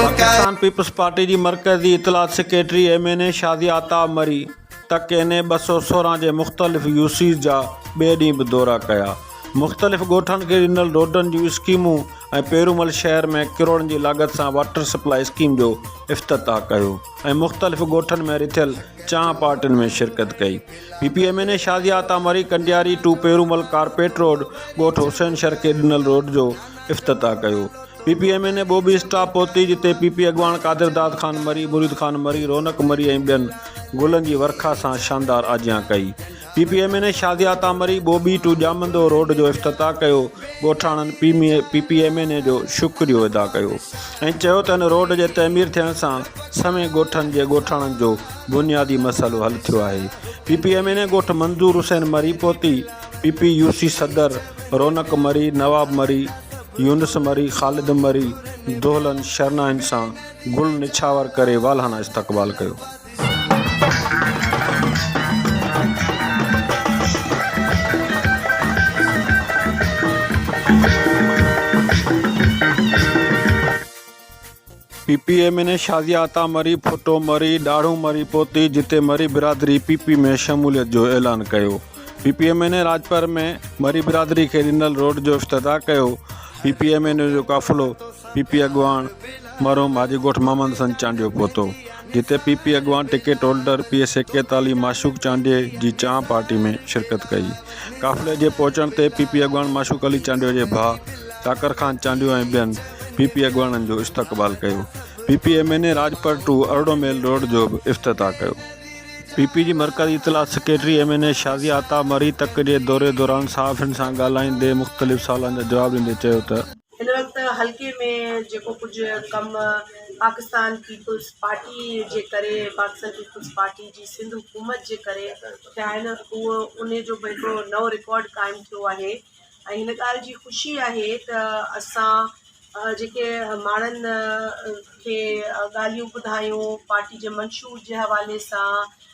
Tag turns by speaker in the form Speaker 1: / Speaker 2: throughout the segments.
Speaker 1: Pakistan People's Party
Speaker 2: جي مرڪزي اطلاعات secretary M N A Shazia Ata Marri تڪ اين اي ٻه سؤ سورهن جي مختلف يو سيز جا ٻئي ڏينهن به دورا ڪيا، مختلف ڳوٺن کي ڏنل روڊن جون اسڪيمون ۽ پيرومل شهر ۾ ڪروڙن جي لاڳت سان واٽر سپلاء اسڪيم جو افتتاح ڪيو ۽ مختلف ڳوٺن ۾ رٿيل چانهه پارٽين ۾ شرڪت ڪئي. P P M N A Shazia Ata Marri Kandiari to Piromal carpet road ڳوٺ حسين شرڪي ڏنل روڊ جو افتتاح ڪيو P P M N A Bobi stop پهتي جتي پي پي اڳواڻ قادر داد خان مري مريد خان مري رونق مري ۽ ٻين گلن جي ورکا سان شاندار آجيان ڪئي P P M N A Shazia Ata Marri Bobi to Jamando road جو افتتاح ڪيو ڳوٺاڻن P P M N A جو شڪريو ادا ڪيو ۽ چيو ته ان روڊ جي تعمير ٿيڻ سان سوين ڳوٺن جي ڳوٺاڻن جو بنيادي مسئلو حل ٿيو آهي، P P M N A ڳوٺ منظور حسين مري پوتي، پي پي يو سي صدر رونق مري، نواب مري، يونس مري، خالد مري دهلن شرنائن سان گل نڇاور ڪري والهانه استقبال ڪيو. P P M N A Shazia عطا مري ڦٽو مري ڏاڙهون مري پهتي جتي مري برادري پي پي ۾ شموليت جو اعلان ڪيو P P M N A Rajpar ۾ Marri برادري کي ڏنل روڊ جو افتتاح ڪيو P P M N A جو قافلو پي پي اڳواڻ مرحوم حاجي ڳوٺ محمد حسن چانڊيو پهتو جتي پي پي اڳواڻ ٽڪيٽ هولڊر پي اي سيڪيتالي معشوق چانڊيي جي چانهه پارٽي ۾ شرڪت ڪئي. قافلي جي پهچڻ تي پي پي اڳواڻ معشوق علي چانڊيو جي ڀاء چاڪر خان چانڊيو ۽ ٻين پي پي اڳواڻن جو استقبال ڪيو. P P M N A Rajpar to ارڙهون ميل روڊ جو به افتتاح ڪيو. پي پي جي مرڪزي اطلاعات secretary M N A Shazia Ata Marri تڪ جي دوري دوران صحافين سان ڳالهائيندي مختلف سوالن جا جواب ڏيندي چيو ته، هن وقت حلقي
Speaker 3: ۾ جيڪو ڪجهه ڪم پاڪستان پيپلز پارٽي جي ڪري پاڪستان پيپلز پارٽي جي سنڌ حڪومت جي ڪري ٿيا آهن اهو ان جو به هڪڙو نئون رڪارڊ قائم ٿيو آهي ۽ هن ڳالهه جي خوشي آهي ته اسان جيڪي ماڻهن کي ڳالهيون ٻڌايون پارٽي جي منشور جي حوالي سان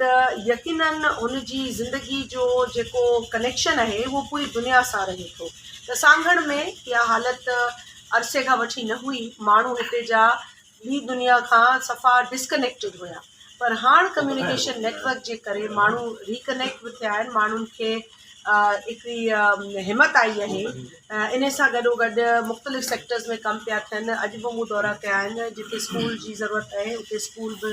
Speaker 3: ته يقيناً هن جي زندگي جو جيڪو ڪنيڪشن اهي اهو پوري دنيا سان رهي ٿو ته سانگهڙ ۾ اها حالت عرصي کان وٺي نه هئي ماڻهو هتي جا ٻي دنيا کان صفا ڊسڪنيڪٽيڊ هيا پر هاڻ ڪميونيڪيشن نيٽورڪ جي ڪري ماڻهو ريڪنيڪٽ به ٿيا آهن ماڻهن کي هڪڙي همت آئي آهي ان سان گڏو گڏ مختلف سيڪٽرز ۾ ڪم پيا ٿين اڄ به مون دورا ڪيا آهن جتي اسڪول جي ضرورت آهي اتي اسڪول به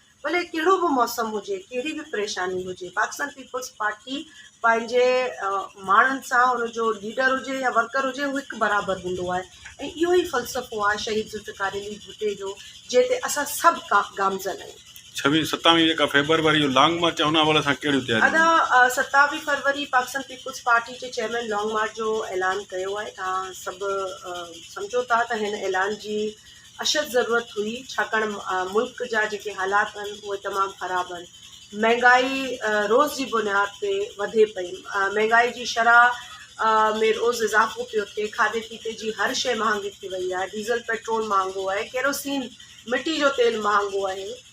Speaker 3: ڀلي ڪهڙو به موسم هجي، ڪهڙي به پريشاني هجي پاڪستان پيپلز پارٽي پنهنجي ماڻهن سان ان جو ليڊر هجي يا ورڪر هجي هو هڪ برابر هوندو آهي ۽ اهو ئي فلسفو آهي شهيد ذوالفقار علي ڀٽي جو جنهن تي اسان سڀ گامزن آهيون. ڇويهه ستاويهه جيڪا
Speaker 2: فيبروري جو لانگ مارچ آهي ان حوالي سان ڪهڙيون تياريون آهن؟ ادا ستاويهه
Speaker 3: فروري پاڪستان پيپلز پارٽي جي چيئرمين لانگ مارچ جو اعلان ڪيو آهي تهان سڀ سمجهو ٿا ته هن اعلان جي اشد ضرورت هئي ڇاڪاڻ ملڪ جا جيڪي حالات آهن اهي تمام خراب آهن مهنگائي روز جي بنياد تي وڌي پئي مهنگائي جي شرح ۾ روز اضافو پيو ٿئي کاڌي پيتي جي هر شيء مهانگي ٿي وئي آهي ڊيزل پيٽرول مهانگو آهي ڪيروسين مٽي جو تيل مهانگو آهي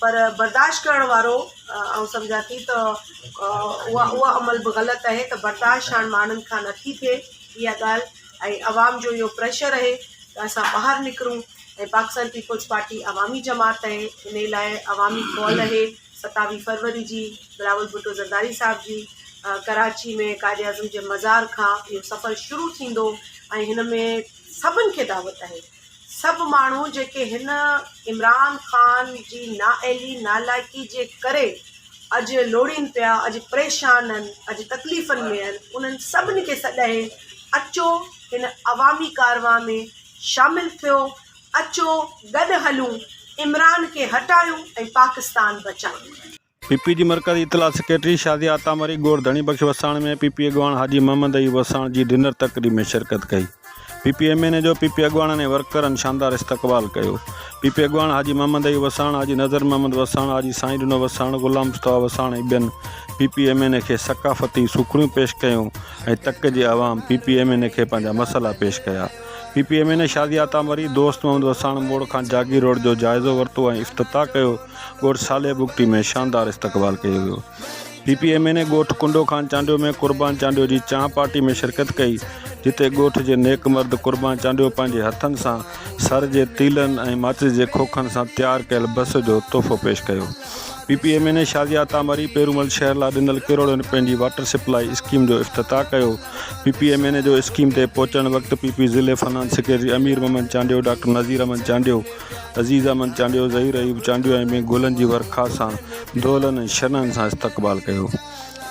Speaker 3: پر برداشت ڪرڻ وارو آئون سمجهان ٿي ته اها اها عمل به غلط آهي ته برداشت هاڻ ماڻهن کان نه ٿي ٿئي اها ڳالهه ۽ عوام جو اهو پريشر رهي ته اسان ٻاهر نڪرون ۽ پاڪستان پيپلز پارٽي عوامي جماعت آهي ان لاء عوامي ڪال اهي ستاويهه فروري جي بلاول ڀٽو زرداري صاحب جي ڪراچي ۾ قائد اعظم جي مزار کان اهو سفر شروع ٿيندو ۽ هن ۾ سڀني کي دعوت آهي سڀ ماڻهو جيڪي هن عمران خان جي نااهلي نالائقي جي ڪري اڄ لوڙين پيا اڄ پريشان ان اڄ تڪليفن ۾ ان انهن سڀني کي سڏهي اچو هن عوامي ڪارواهن ۾ شامل ٿيو اچو گڏ هلون عمران کي هٽايون ۽ پاڪستان بچايون. پي پي جي
Speaker 2: مرڪزي اطلاعات سيڪريٽري شازيا عطا مري گوڙ ڌڻي بخش وساڻ ۾ پي پي اڳواڻ حاجي محمد ايوب وساڻ جي ڊنر تقريب ۾ شرڪت ڪئي. P P M N A جو پي پي اڳواڻن ۽ ورڪرن شاندار استقبال ڪيو. پي پي اڳواڻ حاجي محمد ايوب وساڻ، حاجي نذر محمد وساڻ، حاجي سائين ڏنو وساڻ، غلام مصطفيٰ وساڻ ۽ ٻين P P M N A کي ثقافتي سوکڙيون پيش ڪيون ۽ تڪ جي عوام P P M N A کي پنهنجا مسئلا پيش ڪيا. P P M N A Shazia عطا مري دوست محمد وساڻ موڙ کان جاگير روڊ جو جائزو ورتو ۽ افتتاح ڪيو. ڳوٺ صالح بگٽي ۾ شاندار استقبال ڪيو ويو. P P M N A ڳوٺ ڪنڊو خان چانڊيو ۾ قربان چانڊيو جي چانهه پارٽي ۾ شرڪت ڪئي، جتي ڳوٺ جي نيڪ مرد قربان چانڊيو پنهنجي هٿن سان سر جي تيلن ۽ ماچس جي کوکن سان تيار ڪيل بس جو تحفو پيش ڪيو. P P M N A Shazia عطا مري پيرومل شهر لاء ڏنل ڪروڙين رپين جي واٽر سپلائي اسڪيم جو افتتاح ڪيو. P P M N A جو اسڪيم تي پهچڻ وقت پي پي ضلعي finance secretary Amir Muhammad Chandio, doctor Nazir Ahmed Chandio, Aziz Ahmed Chandio, Zaheer Ayub Chandio ۽ ٻين گلن جي ورکا سان دولن ۽ شنن سان استقبال ڪيو.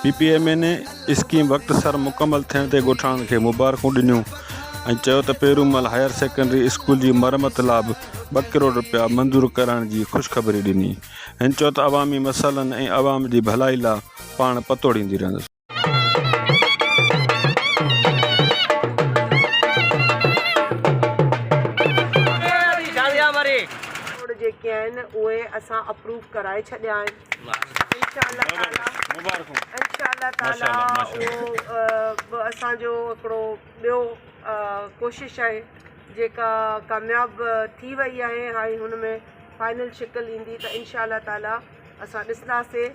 Speaker 2: P P M N A scheme وقت سر مڪمل ٿيڻ تي ڳوٺاڻن کي مبارڪون ڏنيون ۽ چيو ته پيرومل هائير سيڪنڊري اسڪول جي مرمت لا به ٻه ڪروڙ رپيا منظور ڪرائڻ جي خوشخبري ڏني. هن چيو ته عوامي مسئلن ۽ عوام جي ڀلائي لا پاڻ پتوڙيندي رهندس.
Speaker 3: جيڪي آهن اهي اسان اپروف ڪرائي ڇڏيا آهن انشاء الله تعالي انشاء الله تعالي اهو به اسان جو هڪڙو ٻيو ڪوشش آهي جيڪا ڪامياب ٿي وئي آهي هاڻي هن ۾ فائنل شڪل ايندي ته انشاء الله تعالي اسان ڏسنداسي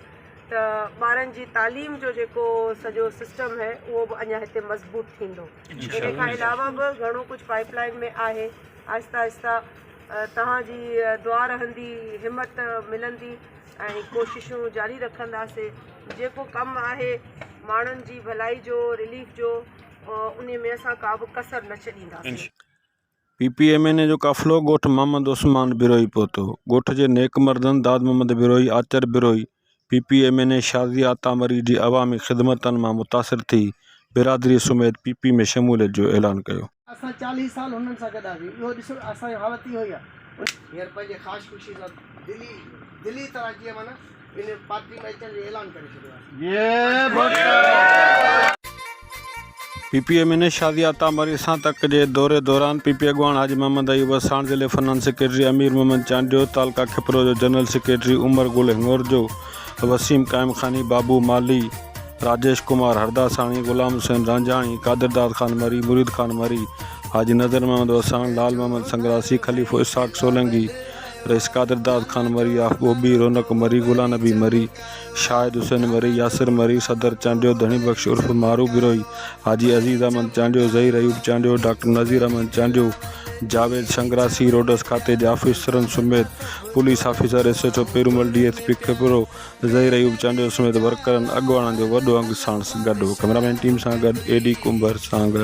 Speaker 3: ته ٻارن جي تعليم جو جيڪو سڄو سسٽم هي اهو به اڃا هتي مضبوط ٿيندو ان کان علاوه به گهڻو ڪجهه پائيپ لائين ۾ آهي آهسته آهسته توهان جي دعا رهندي همت ملندي ۽ ڪوششون جاري رکنداسين جيڪو ڪم آهي ماڻهن جي ڀلائي جو رليف جو ان ۾ اسان ڪا به ڪسر نه ڇڏينداسين P P
Speaker 2: M N A جو قافلو ڳوٺ محمد عثمان بروهي پهتو. ڳوٺ جي نيڪ مردن داد محمد بروهي، آچر Brohi, P P M N A شازيء عطا مري جي عوامي خدمتن مان متاثر ٿي برادريء سميت پي پي ۾ شموليت جو اعلان ڪيو. اسان چاليهه سال هنن
Speaker 4: سان گڏ هئاسين، اهو ڏسو اسان جي حالت اهو ئي آهي. هينئر پنهنجي خاص خوشي سان دلي دلي طرح جيئن معنيٰ. ان پارٽي ۾ اچڻ جو اعلان ڪري ڇڏيو آهي.
Speaker 2: پي پي اي ميني شازيا عطا مري سان تڪ جي دوري دوران پي پي اي اڳواڻ حاجي محمد ايوب وساڻ، ضلعي فنان سيڪريٽري امير محمد چانڊيو، تعلقه کپرو جو جنرل سيڪريٽري عمر گل هنڱورجو، وسيم قائم خاني، بابو مالهي، راجيش ڪمار هرداساڻي، غلام حسين رانجهاڻي، قادرداد خان مري، مريد خان مري، حاجي نظر محمد وساڻ، لال محمد سنگراسي، خليفو اسحاق سولنگي، رئيس قادر داد خان مري، آف ٻوٻي، رونق مري، گلا نبي مري، شاهد حسين مري، ياسر مري، صدر چانڊيو، ڌڻي بخش عرف مارو بروهي، حاجي عزيز احمد چانڊيو، ظهير ايوب چانڊيو، ڊاڪٽر نذير احمد چانڊيو، جاويد شنگراسي، روڊس کاتي جي آفيسرن سميت police officer, S H O Peromal, D S P Khairpur, Zaheer Ayub Chandio سميت ورڪرن اڳواڻن جو وڏو انگ ساڻس گڏ هو ڪئميرا مين ٽيم سان گڏ اي ڊي ڪنڀر سانگهڙ.